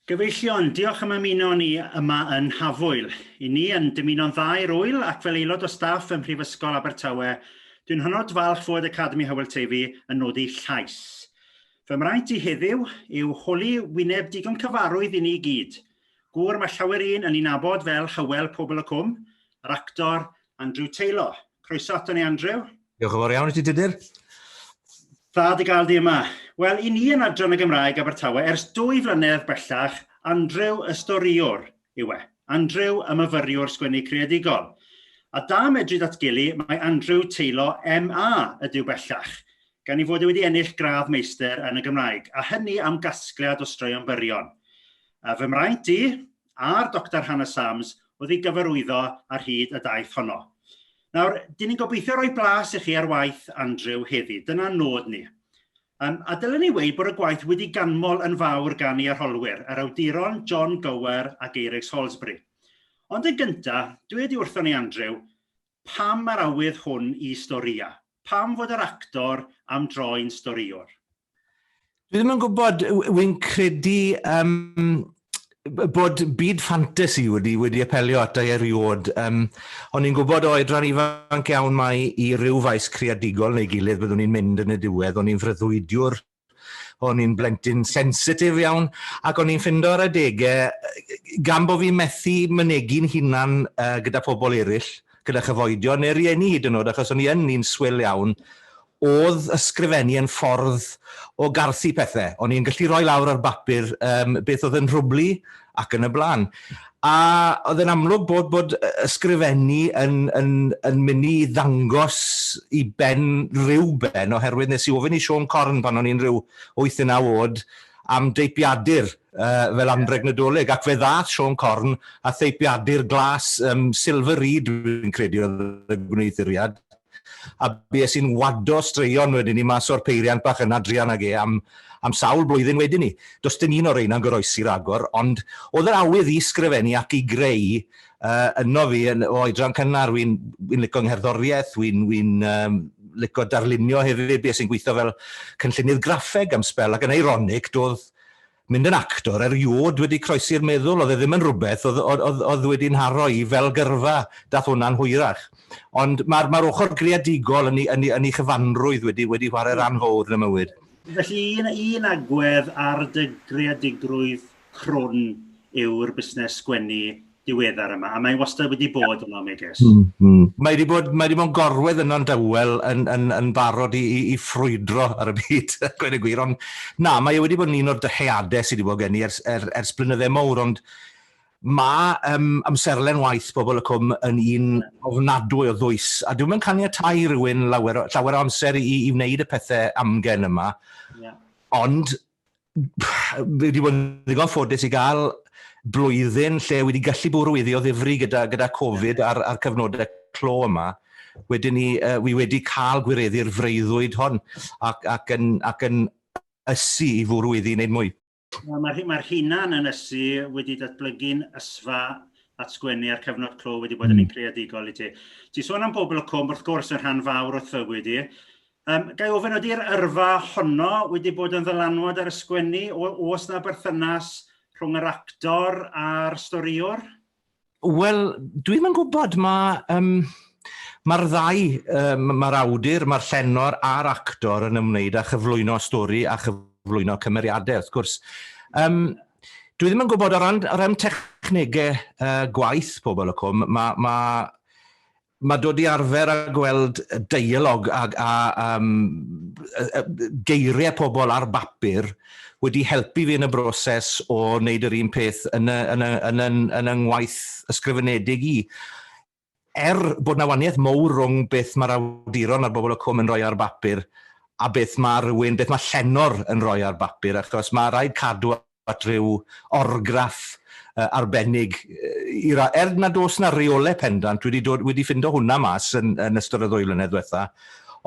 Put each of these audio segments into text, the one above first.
Gyfeillion, diolch am ymuno â ni yma yn Nhafwyl. I ni yn dymuno'n dda i'r ŵyl ac fel aelod o staff ym Mhrifysgol Abertawe dwi'n hynod falch fod Academi Hywel Teifi yn nodi llais. Fy mraint i heddiw yw holi wyneb digon cyfarwydd i ni i gyd. Gŵr mae llawer un yn ei nabod fel Hywel Pobl y Cwm yr actor Andrew Taylor. Croeso ato ni Andrew. Diolch yn fawr iawn i ti Tudur. Dda dy gael di yma. Wel, i ni yn Adran y Gymraeg Abertawe, ers dwy flynedd bellach, Andrew y storiwr yw e. Andrew y myfyriwr sgwennu creadigol. A da medru datgelu, mae Andrew teilo MA ydyw bellach, gan ei fod e wedi ennill gradd meistr yn y Gymraeg, a hynny am gasgliad o straeon byrion. A fy mraint i, a'r Doctor Hannah Sams o'dd i gyfarwyddo ar hyd y daith honno. Nawr dyn ni'n gobeithio roi blas i chi ar waith Andrew heddi dyna nod ni um, a dylen ni wei bod y gwaith wedi ganmol yn fawr gan i arholwyr yr awduron John Gower ac Eirex Holsbury. Ond yn gynta dwi wedi wrthon i Andrew Pam yr awydd hwn i storïa? Pam fod yr actor am droi'n storïwr? Dwi ddim yn gwybod, wy'n credu um, bod byd ffantasi wedi, wedi apelio at i eriod. Um, o'n i'n gwybod o edran ifanc iawn mai i ryw faes creadigol neu gilydd byddwn ni'n mynd yn y diwedd. O'n i'n freuddwydiwr O'n i'n blentyn sensitif iawn ac o'n i'n ffindo ar adegau, gan bod fi'n methu mynegi'n hunan uh, gyda phobl eraill, gyda chyfoedion neu rieni hyd yn oed, achos o'n i yn un swil iawn, oedd ysgrifennu yn ffordd o garthu pethau. O'n i'n gallu rhoi lawr ar bapur um, beth oedd yn rhwblu ac yn y blaen. A oedd e'n amlwg bod, bod ysgrifennu yn, yn, yn mynd i ddangos i ben rhyw ben, oherwydd nes i ofyn i Sean Corn pan o'n i'n rhyw 8 yn awod am deipiadur uh, fel anreg nadolig, ac fe ddath Sean Corn a theipiadur glas um, Silver Reed, fi'n credu oedd y gwneuthuriad, a bues i'n wado straeon wedyn 'ny mas o'r peiriant bach yna druan ag e am am sawl blwyddyn wedyn 'ny. Does dim un o reina'n goroesi ragor, ond o'dd yr awydd i sgrifennu ac i greu yy yno fi yn o oedran cynnar. Wi'n wi'n lico 'ngherddorieth, wi'n wi'n yym lico darlunio hefyd, bues i'n gweitho fel cynllunydd graffeg am sbel, ac yn eironig do'dd mynd yn actor eriôd wedi croesi'r meddwl, oedd e ddim yn rhywbeth oedd oedd oedd oedd wedi nharo i fel gyrfa, dath hwnna'n hwyrach. Ond mae'r mae'r ochr greadigol yn ei yn ei yn ei chyfanrwydd wedi wedi chwarae ran fowr yn y mywyd. Felly un un agwedd ar dy greadigrwydd crwn yw'r busnes sgwennu diweddar yma, a mae wastad wedi bod yno, megis. Mm, mm. Mae wedi bod, mae wedi bod yn gorwedd yno'n dawel yn, yn, yn barod i, i, i ffrwydro ar y byd, gweud y gwir, ond na, mae e wedi bod yn un o'r dyheadau sydd wedi bod gen i ers, er, ers blynydde mowr, ond mae um, amserlen waith bobl y cwm yn un ofnadwy o ddwys, a dwi'n mynd caniatau rhywun lawer, llawer o amser i, i wneud y pethau amgen yma, yeah. ond fi wedi bod yn ddigon ffodus i gael blwyddyn lle wedi gallu bwrw iddi o ddifri gyda, gyda Covid a'r, ar cyfnodau clo yma. Wedyn ni, uh, fi wedi cael gwireddu'r freuddwyd hon ac, ac, yn, ac yn ysu i fwrw iddi wneud mwy. Mae'r mae hunan yn ysu wedi datblygu'n ysfa at sgwennu a'r cyfnod clo wedi bod yn un hmm. creadigol i ti. Ti sôn am bobl y cwm, wrth gwrs, yn rhan fawr o'th fywyd i. Yym ga i ofyn ydi'r yrfa honno wedi bod yn ddylanwad ar y sgwennu o- oes 'na berthynas rhwng yr actor a'r storïwr? Wel dwi'm yn gwybod mae yym mae'r ddau yym mae'r awdur mae'r llenor a'r actor yn ymwneud â chyflwyno stori a chyflwyno cymeriadau wrth gwrs. Yym dwi ddim yn gwybod o ran o ran technegau yy gwaith pobl y cwm ma' ma' Mae dod i arfer a gweld deialog a a um, geiriau pobl ar bapur wedi helpu fi yn y broses o wneud yr un peth yn y, yn y, yn y, yn y ngwaith ysgrifenedig i. Er bod na waniaeth mowr rhwng beth mae'r awduron a'r bobl y cwm yn rhoi ar bapur a beth mae rhywun, beth mae llenor yn rhoi ar bapur, achos mae rhaid cadw at ryw orgraff arbennig i ra-. Er nad oes 'na reole pendant, dwi 'di dod, wedi ffindo hwnna mas yn yn ystod y ddwy flynedd dwetha,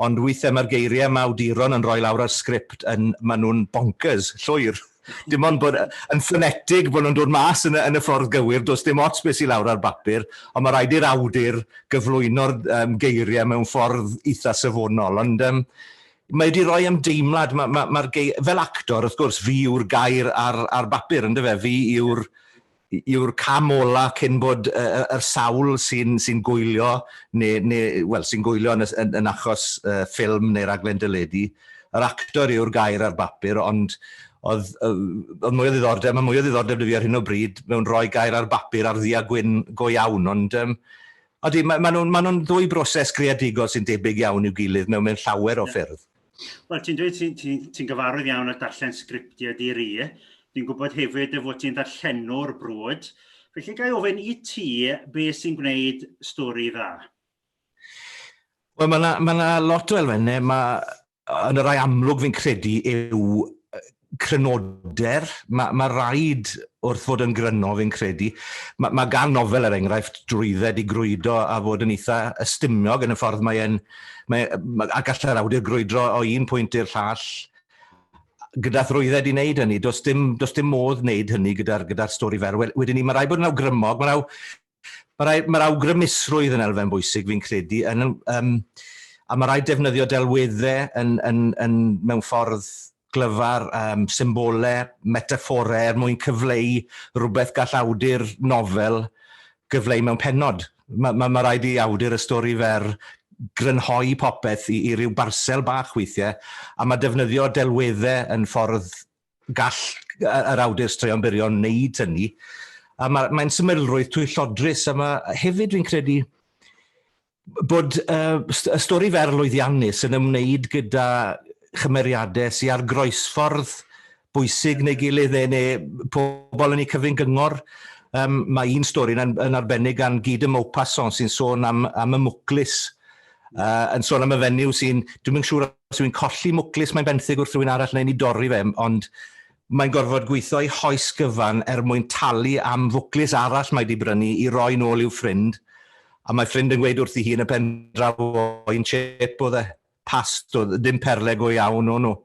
ond withe ma'r geirie 'ma awduron yn roi lawr ar sgript yn, ma' nhw'n bonkers, llwyr. Dim ond bod yn ffonetig bo' nhw'n dod mas yn y yn y ffordd gywir, does dim ots be' sy lawr ar bapur, ond ma' raid i'r awdur gyflwyno'r yym geirie mewn ffordd itha safonol. Ond yym mae wedi rhoi ymdeimlad, ma, ma, mae'r gei... Fel actor, wrth gwrs, fi yw'r gair ar, ar bapur, ynddo fe? Fi yw'r yw'r cam ola cyn bod y, y, yr sawl sy'n sy gwylio, neu, neu wel, sy'n gwylio yn, yn, yn achos uh, ffilm neu raglen dyledu. Yr actor yw'r gair ar bapur, ond oedd, oedd mwy o ddiddordeb, mae mwy o ddiddordeb dy fi ar hyn o bryd mewn rhoi gair ar bapur ar ddi a gwyn go iawn, ond um, Ydy, maen ma nhw'n ma nhw ddwy broses greadigol sy'n debyg iawn i'w gilydd mewn mewn llawer o ffyrdd. Wel ti'n dweud ti'n ti, ti gyfarwydd iawn â darllen sgriptiau di-ri, dwi'n gwybod hefyd y fod ti'n ddarllenwr brwd, felly gael ofyn i ti be sy'n gwneud stori dda? Wel mae yna ma lot o elfennau, mae yn y rhai amlwg fi'n credu yw crynoder. Mae, mae rhaid wrth fod yn gryno fi'n credu. Mae, mae gan nofel er enghraifft drwydded i grwydo a fod yn eitha ystumiog yn y ffordd mae e'n... Mae, mae, a gallai'r awdur grwydro o un pwynt i'r llall gyda thrwydded i wneud hynny. Does dim, does dim modd wneud hynny gyda'r gyda stori fer. Wedyn ni, mae rhaid bod yn awgrymog, mae rhaid Mae rhaid, mae'r awgrymusrwydd yn elfen bwysig fi'n credu, yn, um, a mae rhaid defnyddio delweddau yn, yn, yn, mewn ffordd glyfar, um, symbolau, metaphorau er mwyn cyfleu rhywbeth gall awdur nofel gyfleu mewn penod. Mae ma, ma rhaid i awdur y stori fer grynhoi popeth i, i ryw barsel bach weithiau, a mae defnyddio delweddau yn ffordd gall yr awdur straeon byrion wneud hynny. A mae, mae'n symlrwydd twyllodrus, a mae hefyd fi'n credu bod uh, y stori fer lwyddiannus yn ymwneud gyda chymeriadau sy'n ar groesffordd bwysig neu gilydd neu, neu pobl yn ei cyfrin gyngor. Um, mae un stori yn, yn arbennig gan Guy de Maupassant sy'n sôn am, am y mwclis, uh, yn sôn am y fenyw sy'n, dwi'n mynd siŵr os yw hi'n colli mwclis mae'n benthyg wrth rywun arall neu'n ei dorri fe, ond mae'n gorfod gweithio ei hoes gyfan er mwyn talu am fwclis arall mae 'di brynu i roi nôl i'w ffrind, a mae ffrind yn gweud wrthi hi yn y pendraw o un chip oedd e, past oedd, ddim perle go iawn o'n nhw.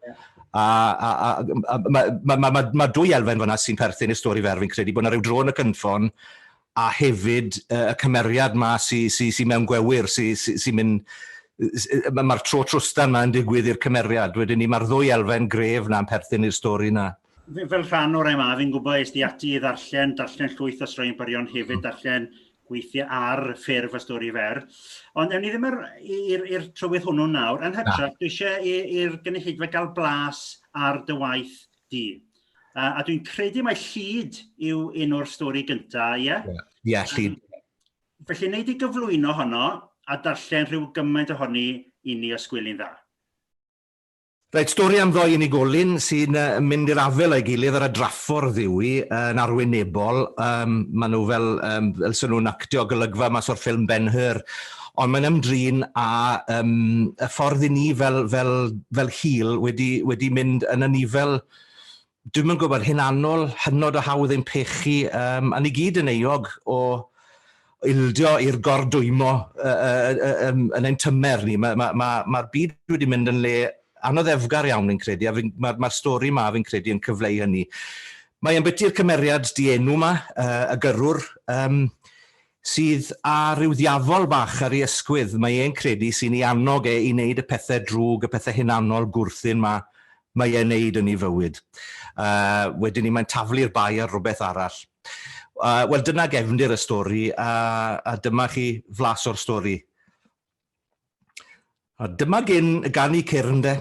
A, a, a, a mae ma, ma, ma, ma dwy elfen fyna sy'n perthyn i'r stori fer, fi'n credu bod yna rhyw dro yn y cynffon a hefyd y cymeriad 'ma sy sy sy mewn gwewyr sy sy sy'n mynd s- yy ma' ma'r tro trwstan 'ma yn digwydd i'r cymeriad wedyn 'ny ma'r ddwy elfen gref 'na'n perthyn i'r stori 'na. F- fel rhan o'r MA fi'n gwbo es di ati i ddarllen darllen llwyth o straeon byrion hefyd darllen gweithie ar ffurf y stori fer ond ewn ni ddim ar i'r i'r trywydd hwnnw nawr yn hytrach dwi isie i i'r gynulleidfa ga'l blas ar dy waith du a a dwi'n credu mae Llid yw un o'r stori gynta' ie? Ie Llid. Felly nei di gyflwyno honno a darllen rhyw gymaint ohoni i ni os gwyl'n dda. Reit, stori am ddou unigolyn sy'n uh, mynd i'r afel a'i gilydd ar y draffordd yw hi, uh, yn arwynebol. Um, maen nhw fel, um, fel sy'n nhw'n actio golygfa mas o'r ffilm Ben-Hur. Ond mae'n ymdrin â yym y ffordd i ni fel fel fel hil wedi wedi mynd yn anifail dwi'm yn gwybod hunanol, hynod o hawdd ein pechu yym a ni gyd yn euog o ildio i'r gordwymo yy yy yy yym yn ein tymer ni. Mae ma' ma' ma'r byd wedi mynd yn le anoddefgar iawn fi'n credu a fi'n ma'r ma'r stori 'ma fi'n credu yn cyfleu hynny. Mae ambiti'r cymeriad dienw 'ma yy y gyrrwr yym Sydd â rhyw ddiafol bach ar ei ysgwydd, mae e'n credu sy'n ei annog e i neud y pethe drwg, y pethe hunanol gwrthun 'ma mae e'n neud yn ei fywyd. Yy, wedyn 'ny mae'n taflu'r bai ar rwbeth arall. Yy, wel dyna gefndir y stori, a a dyma chi flas o'r stori. A dyma gyn y ganu cyrn de.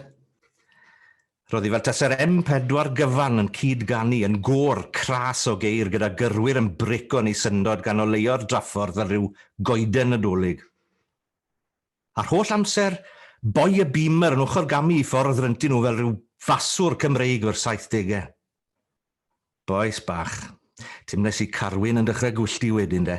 Roedd hi fel tase'r M4 gyfan yn cyd-ganu yn gôr cras o geir gyda gyrwyr yn brico yn ei syndod gan oleuo'r draffordd fel rhyw goeden Nadolig. A'r holl amser, boi y Beamer yn ochr-gamu i ffordd ryntu nhw fel rhyw faswr Cymreig o'r saithdegau. Bois bach. Timles i Carwyn yn dechrau gwyllti wedyn de.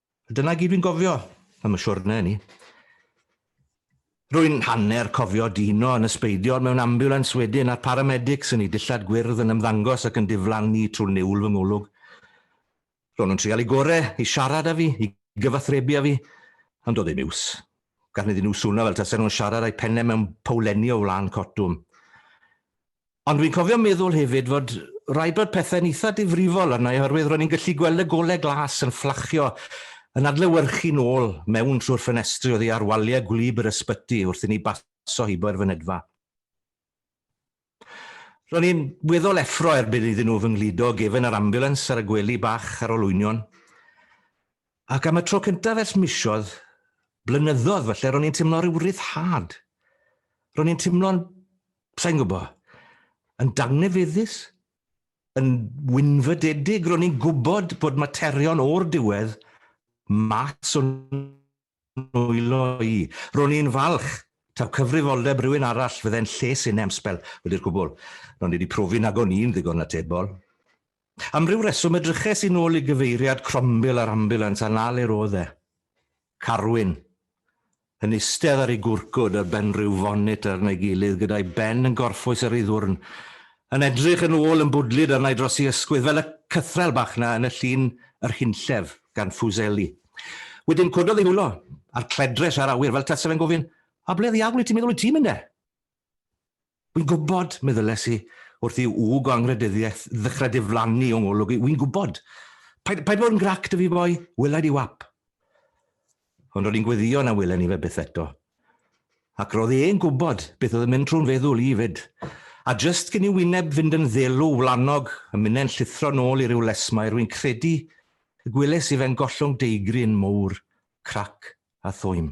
Dyna gyd dwi'n gofio am y siwrne hynny. Rwy'n hanner cofio Dino yn ysbeidio'r mewn ambiwlans wedyn a'r paramedics yn ei dillad gwyrdd yn ymddangos ac yn diflannu trwy niwl fy ngolwg. Ro'n nhw'n trial i gore i siarad â fi, i gyfathrebu â fi, ond doedd ddim iws. Gallwn iddyn nhw swno fel tasen nhw'n siarad â'u penne mewn powlenni o flaen cotwm. Ond dwi'n cofio meddwl hefyd fod rhaid bod pethe'n eitha difrifol arna i oherwydd ro'n i'n gallu gweld y golau glas yn fflachio, yn adlewyrchu nôl mewn trwy'r ffenestri oddi ar waliau gwlyb yr ysbyty wrth i ni baso hibo i'r fynedfa. Ro'n i'n weddol effro erbyn iddyn nhw fy ngludo gefen yr ambiwlans ar y gwely bach ar olwynion. Ac am y tro cyntaf ers misoedd, blynyddoedd falle, ro'n i'n timlo rhyw ryddhad. Ro'n i'n timlo'n sa'n gwybod, yn dangnefeddus, yn wynfydedig, ro'n i'n gwybod bod materion o'r diwedd mas o'n nwylo i. Ro'n i'n falch taw cyfrifoldeb rhywun arall fydde'n lles i nemsbel wedi'r cwbl. Ro'n i wedi profi nag o'n i'n ddigon atebol. Am ryw reswm edryches i'n ôl i gyfeiriad crombil yr ambiwlans a 'na le roedd e. Carwyn, yn istedd ar ei gwrcwd ar ben rhyw fonit ar ei gilydd gyda'i ben yn gorffwys ar ei ddwrn, yn edrych yn ôl yn bwdlyd arna i dros ei ysgwydd, fel y cythrel bach 'na yn y llun Yr Hunllef gan Fuseli. Wedyn cododd ei hwlo, a'r cledres a'r awyr, fel tase fe'n gofyn, 'A ble ddiawl wyt ti'n meddwl wyt ti'n mynd de? Wi'n gwybod, meddyles i, wrth i wg o angrhydeddiaeth ddechrau diflannu o ngolwg i, wi'n gwybod. Paid, paid bod yn grac dy fi boi, wela i di wap. Ond ro'n i'n gweddio na welen i fe byth eto. Ac roedd e'n gwybod beth oedd yn mynd trwy'n feddwl i 'fyd. A jyst cyn i wyneb fynd yn ddelw wlanog, y minnau'n llithro nôl i ryw lesmaer, wi'n credu y gwelais i fe'n gollwng deigryn mowr, crac a thwym.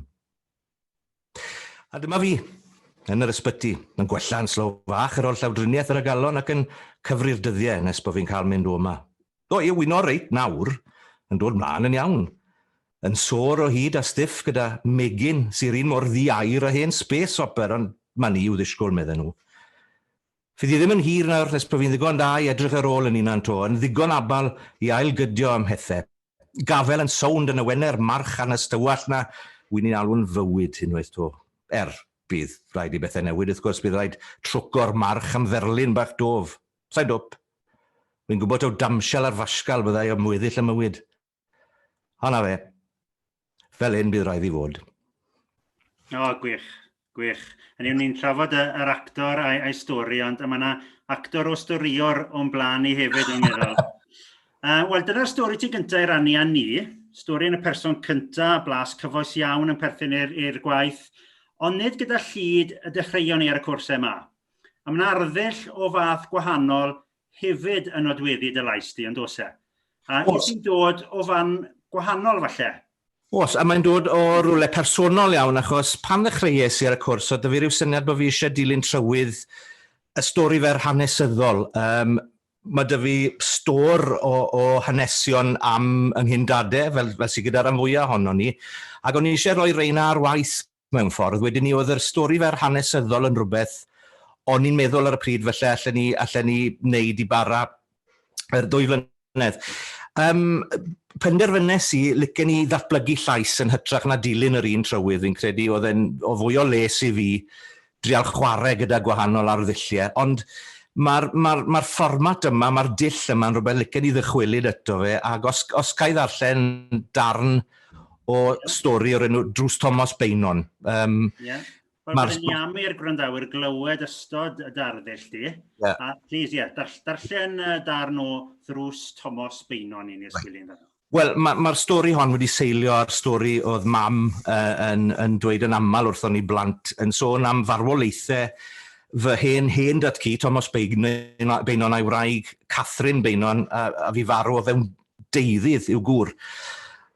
A dyma fi, yn yr ysbyty, yn gwella yn slow fach yr oll llawdriniaeth yr agalon ac yn cyfri'r dyddiau nes bod fi'n cael mynd o yma. O, i wyno reit nawr, yn dod mlaen yn iawn. Yn sôr o hyd a stiff gyda megyn sy'r un mor ddi-air a hen space hopper, ond ma ni i'w ddisgwyl, medden nhw. Fydd hi ddim yn hir nawr nes bod fi'n ddigon da i edrych ar ôl yn hunan to, yn ddigon abal i ail-gydio am hethau, Gafael yn sownd yn y Wener, march arna ystywallt 'na. Wi'n ei alw'n fywyd, unwaith 'to. Er, bydd rhaid i bethau newid, wrth gwrs, bydd rhaid trwco'r march am ferlyn bach dof. Sai'n dwp. Wi'n gwybod taw damshel ar fasgal fyddai am weddill 'y mywyd. A 'na fe. Fel hyn bydd rhaid i fod. O, oh, gwych, gwych. Yn yw ni'n trafod y, yr actor a'i, a'i stori, ond mae yna actor o storïwr o'n blaen i hefyd yn meddwl. Uh, Wel, dyna'r stori ti gyntaf i rannu â ni, stori yn y person cyntaf, blas cyfoes iawn yn perthyn i'r gwaith, ond nid gyda llid y dechreuon ni ar y cwrsau yma. A mae'n arddull o fath gwahanol hefyd yn nodweddu dy lais di ond oes e? A wyt ti'n dod o fan gwahanol falle? Os, a mae'n dod o rwle personol iawn achos pan ddechreuais i ar y cwrs oedd 'da fi ryw syniad bod fi eisiau dilyn trywydd y stori fer hanesyddol. Um, mae 'da fi stor o, o hanesion am yng nghyn dade, fel, fel sydd gyda'r rhan fwyaf ohono ni, ac o'n i eisiau rhoi reina ar waith Mewn ffordd, wedyn ni, oedd yr stori fer hanesyddol yn rhywbeth o'n i'n meddwl ar y pryd falle allen ni, allen ni wneud i bara yr ddwy flynedd. Um, penderfynes i, licen ni ddatblygu llais yn hytrach na dilyn yr un trywydd, fi'n credu oedd e'n o fwy o les i fi drial chwarae gyda gwahanol arddulliau, ond mae'r, mae'r, mae'r fformat yma, mae'r dull yma yn rhywbeth licen i ddychwelyd eto fe, ac os, os ca i ddarllen darn o stori o'r enw Drws Tomos Beynon. Um, yeah. Wel, byddwn ni am i'r gwrandawyr glywed ystod y darddull di. Yeah. A please, ie, yeah, darllen darn o Ddrws Tomos Beynon i ni os gwylio'n dda. Wel, ma' ma'r stori hon wedi seilio ar stori o'dd mam yy yn yn dweud yn amal wrthon ni blant, yn sôn am farwolaethe fy hen hen dad-cu, Tomos Beign- Beynon a'i wraig, Catherine Beynon, a a fu farw o fewn deuddydd i'w gŵr.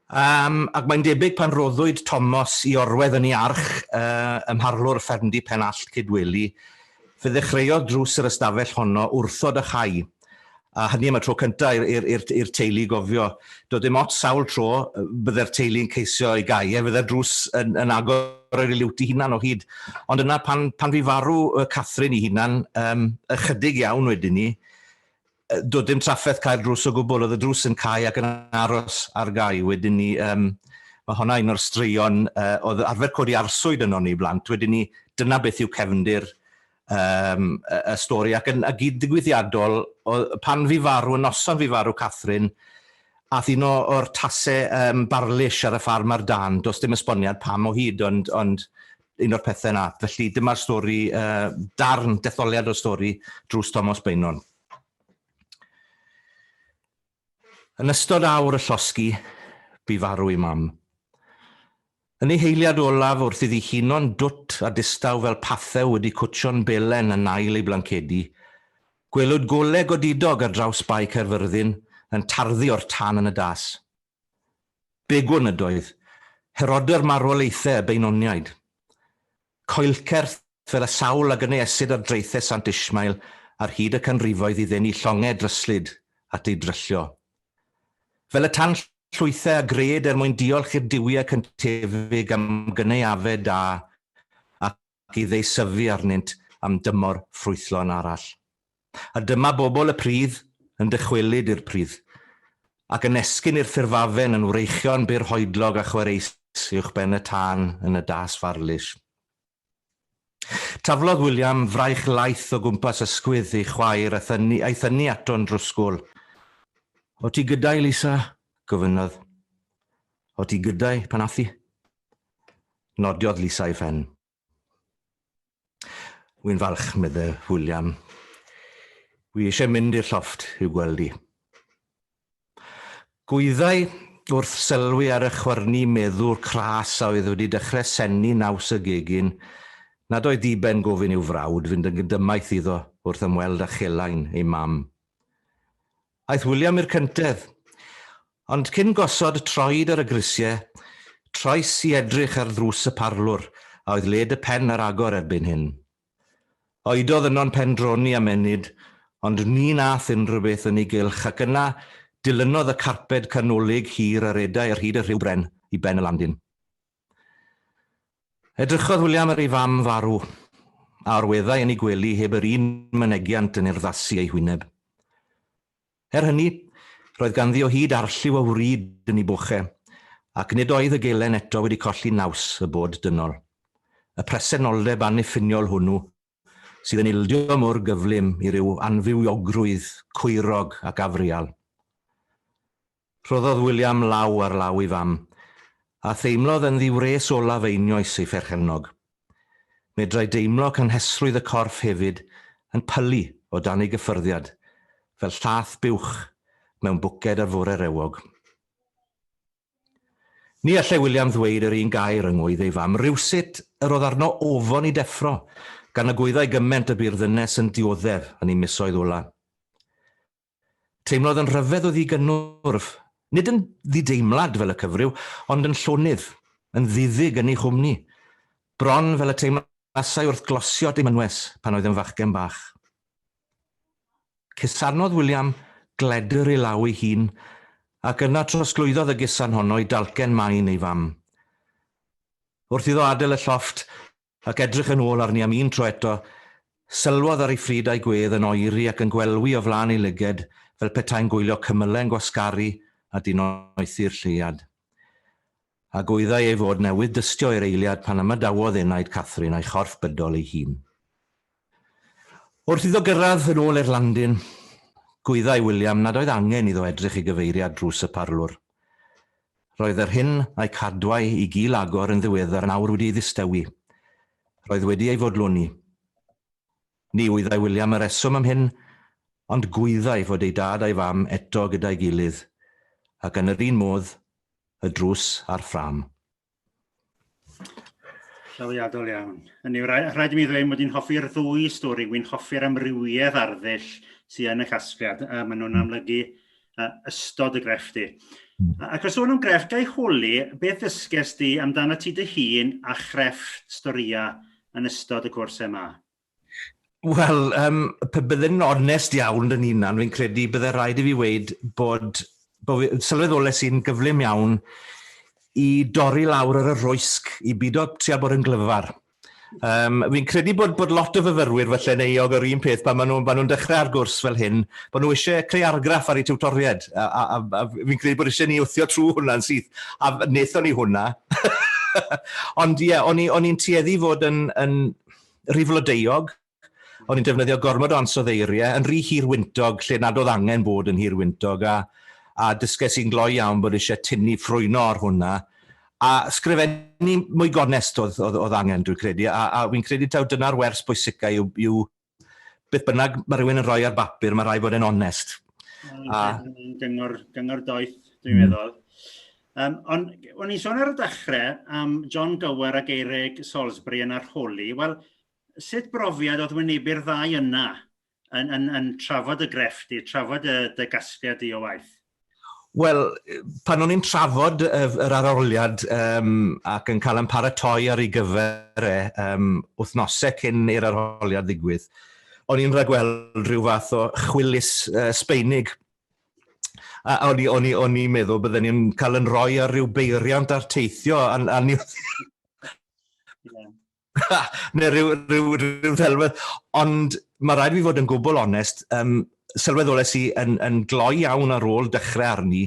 Yym, ac mae'n debyg pan roddwyd Tomos i orwedd yn ei arch yy ym mharlwr ffermdy Pen Allt Cydweli, fe ddechreuodd drws yr ystafell honno wrthod a chau, A hynny am y tro cyntaf i'r, i'r, i'r, i'r teulu gofio. Doedd dim ots sawl tro bydde'r teulu'n ceisio ei gau e, fydde'r drws yn, yn agor ar ei liwt i hunan o hyd. Ond yna pan, pan fi farw Catherine i hunan, um, ychydig iawn wedyn ni, doedd dim trafferth cael drws o gwbl, oedd y drws yn cael ac yn aros ar gau. Wedyn ni, um, mae honna un o'r straeon uh, oedd arfer codi arswyd yno ni blant. Wedyn ni, dyna beth yw cefndir um, y stori, ac yn y gyd digwyddiadol, pan fi farw, y noson fi farw Catherine, ath un o'r tasau um, barlish ar y ffarm ar dan, does dim esboniad pam o hyd, ond, ond un o'r pethau yna. Felly dyma'r stori, uh, darn, detholiad o'r stori, drws Thomas Bainon. Yn ystod awr y llosgi, bu farw ei mam. Yn ei heiliad olaf, wrth iddi huno'n dwt a distaw fel pathew wedi cwtsio'n belen yn ail ei blancedi, gwelwyd golau godidog ar draws Bae Caerfyrddin yn tarddu o'r tân yn y das. Begwn ydoedd, Herody'r marwolaethau y Beinoniaid. Coelcerth, fel y sawl a gynaeasid ar draethau Sant Ishmael ar hyd y canrifoedd i ddenu llongau dryslyd at eu dryllio. Fel y tan llwythau a gred er mwyn diolch i'r duwiau cyntefig am gynaeafed da ac i ddeisyfu arnynt am dymor ffrwythlon arall. A dyma bobl y pridd yn dychwelyd i'r pridd, ac yn esgyn i'r ffurfafen yn wreichion bur hoedlog a chwareus uwchben y tân yn y das farlus. Taflodd William fraich laeth o gwmpas ysgwydd ei chwaer a thynnu, a'i thynnu ato'n drwsgwl. O ti gyda'i, Lisa? gofynnodd. O ti gyda'i, pan ath i? Nodiodd Lisa ei phen. Wi'n falch, medde William. Wi eisiau mynd i'r llofft i'w gweld i. Gwyddai wrth sylwi ar y chwyrnu meddwr cras a oedd wedi dechrau sennu naws y gegin, nad oedd diben gofyn i'w frawd fynd yn gydymaith iddo wrth ymweld â chelain ei mam. Aeth William i'r cyntedd. Ond cyn gosod troed ar y grisiau, troes i edrych ar ddrws y parlwr a oedd led y pen ar agor erbyn hyn. Oedodd yno'n pendroni am ennyd, ond ni nath unrhyw beth yn ei gylch ac yna dilynodd y carped canolig hir a redai ar hyd y rhiw bren i ben y landin. Edrychodd William ar ei fam farw, a orweddai yn ei gwely heb yr un mynegiant yn urddasu ei hwyneb. Er hynny, roedd ganddi o hyd arlliw o wrid yn ei boche, ac nid oedd y gelen eto wedi colli naws y bod dynol. Y presenoldeb anniffiniol hwnnw sydd yn ildio mor gyflym i ryw anfywiogrwydd cwyrog ac afrial. Rhoddodd William law ar law ei fam, a theimlodd yn ddiwres olaf einioes ei pherchennog. Medrai deimlo cynhesrwydd y corff hefyd yn pylu o dan ei gyffyrddiad, fel llath buwch mewn bwced ar fore rewog. Ni allai William ddweud yr un gair yng ngŵydd ei fam rywsut yr oedd arno ofon i deffro, gan y gwyddai gyment y bu'r ddynes yn dioddef yn ei misoedd ola. Teimlodd yn rhyfedd o ddigynnwrf, nid yn ddideimlad fel y cyfryw, ond yn llonydd, yn ddiddig yn ei chwmni, bron fel y teimlasai wrth glosiod ei mynwes pan oedd yn fachgen bach. Cusanodd William gledr ei law ei hun, ac yna trosglwyddodd y gusan honno i dalcen main ei fam. Wrth iddo adael y llofft ac edrych yn ôl arni am un tro eto, sylwodd ar ei phryd a'i gwedd yn oeri ac yn gwelwi o flaen ei lyged fel petai'n gwylio cymyle'n gwasgaru a dinoethi'r lleuad. a gwyddai ei fod newydd dystio i'r eiliad pan ymadawodd enaid Catherine a'i chorff bydol ei hun. Wrth iddo gyrraedd yn ôl i'r landin, gwyddai William nad oedd angen iddo edrych i gyfeiriad drws y parlwr. Roedd yr hyn a'i cadwai i gil agor yn ddiweddar nawr wedi ei ddistewi. Roedd wedi ei fodloni. Ni wyddai William y reswm am hyn, ond gwyddai fod ei dad a'i fam eto gyda'i gilydd, ac yn yr un modd, y drws a'r ffrâm. Llawiadol iawn. Hynny yw, rhaid i mi ddweud mod i'n hoffi'r ddwy stori, wy'n hoffi'r amrywiaeth arddull sydd yn y casgliad, a maen nhw'n hmm. amlygu uh, ystod y grefft i. Hmm. Ac os o'n nhw'n grefft, gael holi, beth ddysges di amdano ti dy hun a chrefft storïau yn ystod y cwrs yma? Wel, um, pe bydde'n onest iawn yn hunan, fi'n credu bydde rhaid i fi weid bod, bod fi, sylweddole sy'n gyflym iawn i dorri lawr ar y rwysg, i byd o trio bod yn glyfar. Um, fi'n credu bod, bod lot o fyfyrwyr falle yn eog o'r un peth pan maen nhw'n nhw dechrau ar gwrs fel hyn, bod nhw eisiau creu argraff ar eu tiwtoriaid, a, a, a, a fi'n credu bod eisiau ni wthio trwy hwnna'n syth, a wnaethon ni hwnna. Ond ie, yeah, o'n i'n tueddu fod yn, yn rhy flodeuog, o'n i'n defnyddio gormod o ansoddeiriau, yn rhy hir wyntog lle nad oedd angen bod yn hir wyntog, a, a dysges i'n gloi iawn bod eisiau tynnu ffrwyno ar hwnna, a sgrifennu mwy gonest oedd, oedd, oedd angen, dwi'n credu, a, a fi'n credu taw dyna'r wers bwysicau yw, yw beth bynnag mae rhywun yn rhoi ar bapur, mae rhai fod yn onest. A... Gyngor, gyngor doeth, dwi'n hmm. meddwl. Yym ond o'n i'n son ar y dechre am John Gower a Gerrig Salisbury yn arholi wel sut brofiad o'dd wynebu'r ddau yna yn yn yn trafod dy grefft di trafod y dy gasgliad di o waith? Wel pan o'n i'n trafod yr aroliad um, ac yn cael yn paratoi ar ei gyfer e um, wythnosau cyn i'r arholiad ddigwydd, o'n i'n rhagweld rhyw fath o chwilis uh, sbeinig A o'n i, o'n i, o'n i'n meddwl bydden ni'n cael yn rhoi ar ryw beiriant ar teithio, a, a ni... neu rhyw, rhyw, rhyw ddelwedd. Ond mae rhaid fi fod yn gwbl onest, um, sylweddolais i yn, yn gloi iawn ar ôl dechrau arni,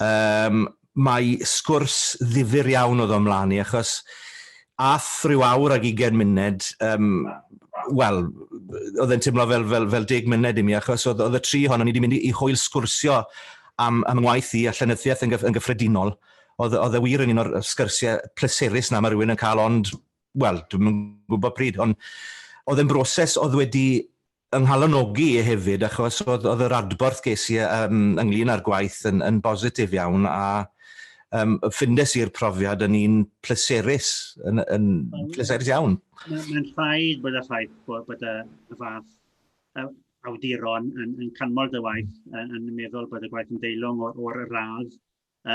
Yym, mae sgwrs ddifyr iawn oedd o ymlaen i, achos ath ryw awr ag ugain muned, yym, wel, oedd e'n timlo fel, fel, fel deg muned i mi, achos oedd, oedd y tri ohonon ni wedi mynd i, i hwyl sgwrsio am, am ngwaith i a llenyddiaeth yn, gyf, yn gyffredinol. Oedd, oedd e wir yn un o'r sgyrsiau pleserus 'na mae rhywun yn cael ond, wel, dwi'm yn gwybod pryd, ond oedd e'n broses oedd wedi Fy nghalonogi i hefyd achos oedd oedd yr adborth ges i yym ynglŷn â'r gwaith yn yn bositif iawn a yym ffindes i'r profiad yn un pleserus yn yn pleserus iawn. Mae'n rhaid bod y ffaith bod bod y y fath y awduron yn yn canmol dy waith yn yn meddwl bod y gwaith yn deilwng o'r o'r radd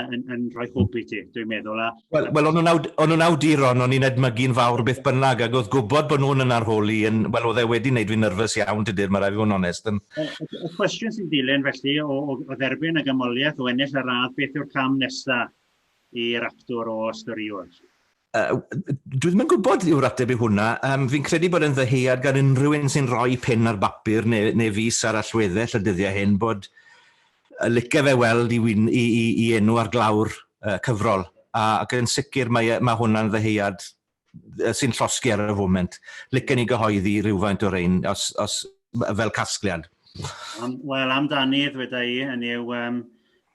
yn, yn rhoi hwb i ti, dwi'n meddwl. A... Wel, well, o'n nhw'n awduron, o'n i'n edmygu'n fawr beth bynnag, ac oedd gwybod bod nhw'n yn arholi, yn, wel, oedd e wedi wneud fi'n nyrfys iawn, tydy'r, mae rai fi fod yn onest. Yn... Y, y, y cwestiwn sy'n dilyn felly o, o, o dderbyn y gymoliaeth o ennill y radd, beth yw'r cam nesaf i'r actor o ystoriwr? Uh, dwi ddim yn gwybod yw'r ateb i hwnna. Um, fi'n credu bod yn ddyheuad gan unrhyw un sy'n rhoi pen ar bapur neu, neu fus ar allweddell y dyddiau hyn bod y licio fe weld i, wyn, i, i, i enw ar glawr uh, cyfrol. A, ac yn sicr mae, e, mae hwnna'n ddyheuad sy'n llosgi ar y foment. Licen ni gyhoeddi rhywfaint o'r ein os, os, fel casgliad. Um, Wel, amdani, ddweda i, yn yw um,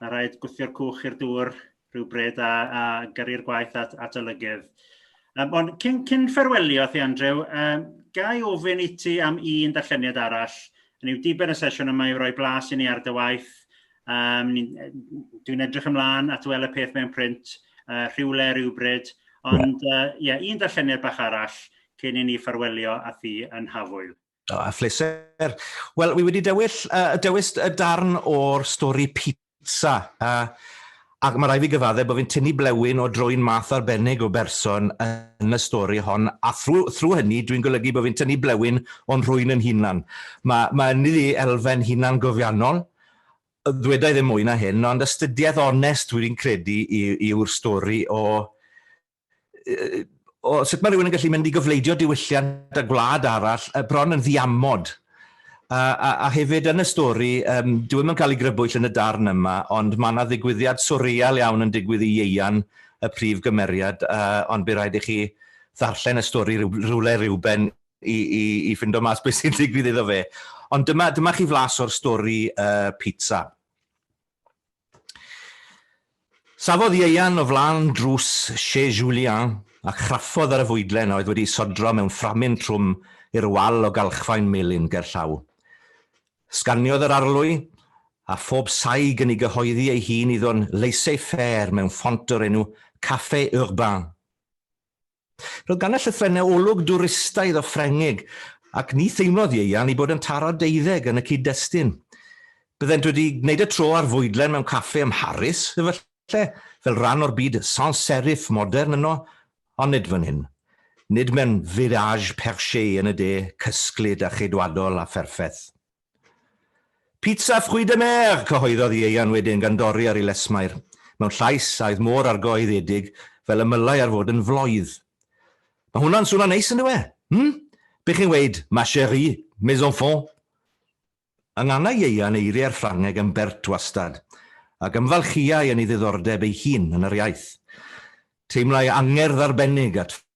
a rhaid gwthio'r cwch i'r dŵr rhywbryd a, a gyrru'r gwaith at, at olygydd. Um, ond cyn, cyn fferwelio thi Andrew, um, gai ofyn i ti am un darlleniad arall, yn yw diben y sesiwn yma yw roi blas i ni ar dy waith, um, dwi'n edrych ymlaen at wel y peth mewn print uh, rhywle rhywbryd, ond ie, uh, yeah, un darlleniad bach arall cyn i ni ffarwelio a thi yn Hafwyl. O, a phleser. Wel, wi wedi dewill, uh, dewis y darn o'r stori pizza. Uh, ac mae rai fi gyfadde bod fi'n tynnu blewyn o droi'n math arbennig o berson yn y stori hon, a thrwy, thrwy hynny dwi'n golygu bod fi'n tynnu blewyn o'n rhwy'n yn hunan. Mae, mae yn iddi elfen hunan gofiannol, ddwedau ddim mwy na hyn, ond astudiaeth onest dwi'n credu yw'r stori o o sut mae rhywun yn gallu mynd i gyfleidio diwylliant a gwlad arall, uh, bron yn ddiamod. A, a, a hefyd yn y stori, um, dwi ddim yn cael ei grybwyll yn y darn yma, ond mae yna ddigwyddiad swrial iawn yn digwydd i ieian y prif gymeriad, uh, ond bydd rhaid i chi ddarllen y stori rhywle rhywben i, i, i fynd o mas beth sy'n digwydd iddo fe. Ond dyma, dyma chi flas o'r stori uh, pizza. Safodd Ieuan o flaen drws Chez Julien a chraffodd ar y fwydlen a oedd wedi ei sodro mewn fframyn trwm i'r wal o galchfaen melyn ger llaw. Sganiodd yr arlwy, a phob saig yn ei gyhoeddi ei hun iddo'n laissez-faire mewn ffont o'r enw Café Urbain. Roedd gan y llythrennau olwg dwristaidd o Ffrengig, ac ni theimlodd Ieuan i bod yn taro deuddeg yn y cyd-destun. Byddent wedi gwneud y tro ar fwydlen mewn caffe ym Mharis, efallai, fel rhan o'r byd sans serif modern yno, ond nid fan hyn. Nid mewn village perché yn y de, cysglyd a cheidwadol a pherffeth. Pizza fruits de mer! cyhoeddodd Ieuan wedyn gan dorri ar ei lesmair, mewn llais a oedd mor argoeddedig fel y mylai ar fod yn floydd. Mae hwnna'n swnio'n neis yn dyw e? Hm? Be chi'n weud, ma cherie, mes enfants? Yngana Ieuan eiriau'r Ffrangeg yn bert wastad, ac ymfalchiai yn ei ddiddordeb ei hun yn yr iaith. Teimlai angerdd arbennig at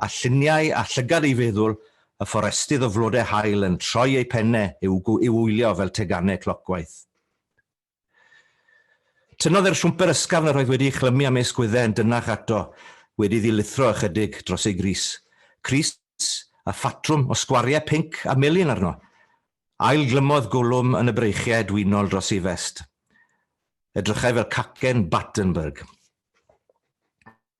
a lluniau a llygad ei feddwl, y fforestydd o flodau haul yn troi eu pennau i'w i'w wylio fel teganau clocwaith. Tynnodd e'r siwmper ysgafn yr oedd wedi ei chlymu am ei sgwyddau yn dynnach ato, wedi iddi lithro ychydig dros ei grys. Crys â phatrwm o sgwariau pinc a melyn arno. Ail-glymodd Gwlwm yn y breichiau edwinol dros ei fest. Edrychai fel cacen Battenberg.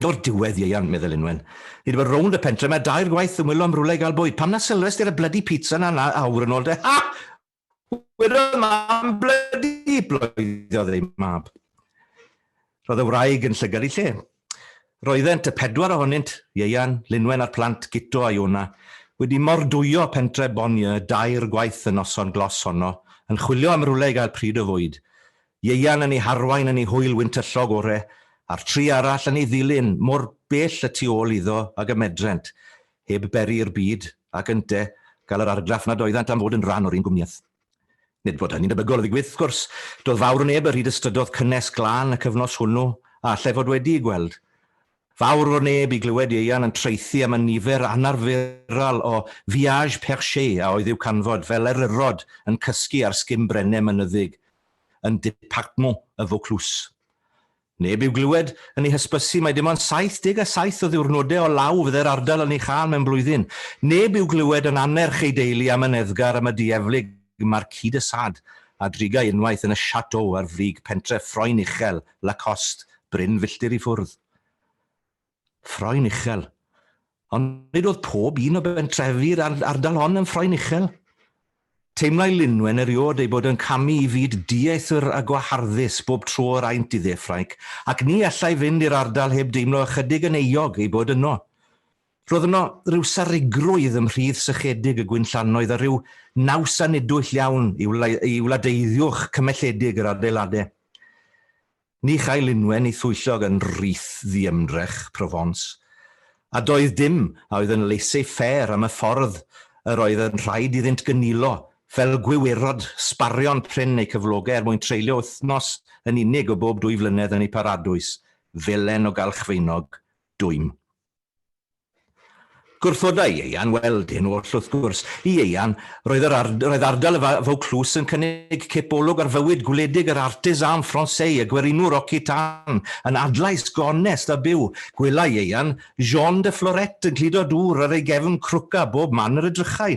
O'r diwedd, ieuan, meddai Lynwen. Ni wedi bod rownd y pentre 'ma dair gwaith yn wylo am rywle i gael bwyd. Pam na sylwes di ar y blydi pizza 'na na awr yn ôl de? Ha! Wedodd mam blydi, bloeddodd ei mab. Roedd y wraig yn llygad i lle. Roeddent y pedwar ohonynt, ieuan, Lynwen a'r plant, Guto a Iona, wedi mordwyo pentre Bonnieu dair gwaith y noson glos honno, yn chwilio am rywle i gael pryd o fwyd. Ieuan yn ei harwain yn ei hwyl wyntyllog ore, a'r tri arall yn ei ddilyn mor bell y tu ôl iddo ag y medrent, heb beri i'r byd, ac ynte, gael yr argraff nad oeddant am fod yn rhan o'r un gwmnïaeth. Nid bod hynny'n debygol o ddigwydd, wrth gwrs. Doedd fawr o neb ar hyd y strydodd cynnes glân y cyfnos hwnnw, a allai fod wedi'i gweld. Fawr fod neb i glywed Ieuan yn traethu am y nifer anarferol o viages perchés a oedd i'w canfod fel eryrod yn cysgu ar sgim brenne mynyddig yn Departement y Vaucluse. Neb i'w glywed yn ei hysbysu mai dim ond 77 o ddiwrnodau o law fyddai'r ardal yn ei chael mewn blwyddyn. Neb i'w glywed yn annerch ei deulu am y neddgar am y dieflig y Marquis de Sade a drigai unwaith yn y Chateau ar frig pentref Ffroen Uchel, Lacoste, Bryn filltir i ffwrdd. Ffroen Uchel. Ond nid oedd pob un o bentrefi'r ardal hon yn Ffroen Uchel. Teimlai Lynwen eriod ei bod yn camu i fyd dieithr a gwaharddus bob tro yr aent i dde Ffrainc, ac ni allai fynd i'r ardal heb deimlo ychydig yn euog ei bod yno. Roedd yno ryw sarugrwydd ym mhrith sychedig y gwinllannoedd a rhyw naws anedwyll iawn i wladeiddio'ch cymelledig yr adeilade. Ni chael unwen i thwyllog yn rith ddiymdrech Provence, a doedd dim a oedd yn laissez faire am y ffordd yr oedd yn rhaid iddynt gynilo fel gwiwerod sbarion prin eu cyflogau er mwyn treulio wythnos yn unig o bob dwy flynedd yn eu paradwys felen o galchfeinog dwym. Gwrthoda Ieuan, wel, dyn oll wrth gwrs. I Ieuan, roedd yr ar, roedd ardal y Vaucluse yn cynnig cip olwg ar fywyd gwledig yr artisan Français, y gwerinwr occitan, yn adlais gonest a byw. Gwela Ieuan Jean de Florette yn cludo dŵr ar ei gefn crwca bob man yr edrychai.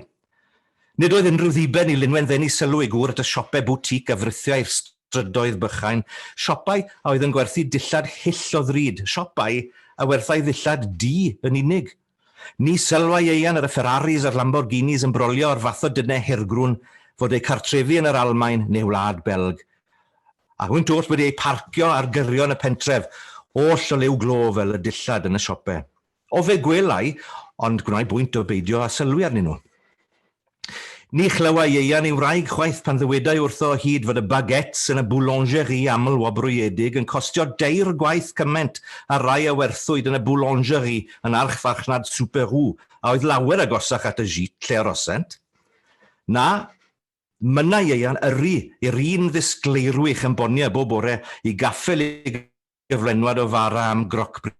Nid oedd unrhyw ddiben i Lynwen ddenu sylw ei gŵr at y siopau boutique a frithiau'r strydoedd bychain, siopau a oedd yn gwerthu dillad hyll o ddrud, siopau a werthai ddillad du yn unig. Ni sylwai Ieuan ar y Ferraris a'r Lamborghinis yn brolio o'r fath o dynnau hirgrwn fod eu cartrefi yn yr Almaen neu Wlad Belg, a hwynt oll wedi eu parcio ar gyrion y pentref, oll o liw glo fel y dillad yn y siopau. O fe gwelai, ond gwnai bwynt o beidio â sylwi arnyn nhw. Ni chlywai Ieuan ei wraig chwaith pan ddywedai wrtho o hyd fod y baguettes yn y boulangerie aml-wobrwyedig yn costio dair gwaith cymaint â'r rhai a werthwyd yn y boulangerie yn archfarchnad Superou a oedd lawer agosach at y gît lle arosent. Na, mynna Ieuan yrru i'r un ddisgleirwch yn Bonia bob bore i gaffel ei gyflenwad o fara am groc-bris.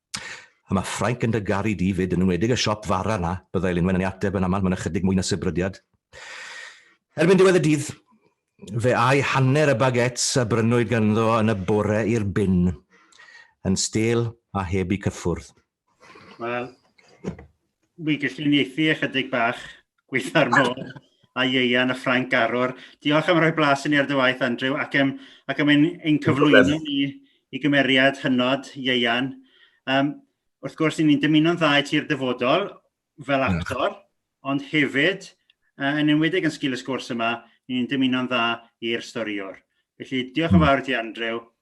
A mae Ffrainc yn dy garu di 'fyd, yn enwedig y siop fara 'na, byddai Lynwen yn ei ateb yn aml mewn ychydig mwy na sibrydiad. Erbyn diwedd y dydd, fe âi hanner y baguettes a brynwyd ganddo yn y bore i'r bin, yn stêl a heb eu cyffwrdd. Wel, wi gallu uniaethu ychydig bach gweitha'r môr a ieuan a Ffrainc Arwr. Diolch am roi blas i ni ar dy waith Andrew ac yym ac am ein ein cyflwyno ni i gymeriad hynod ieuan yym wrth gwrs i ni'n dymuno'n dda i ti i'r dyfodol fel actor ond hefyd yy yn enwedig yn sgil y sgwrs yma ni'n dymuno'n dda i'r storïwr. Felly diolch yn fawr i ti Andrew.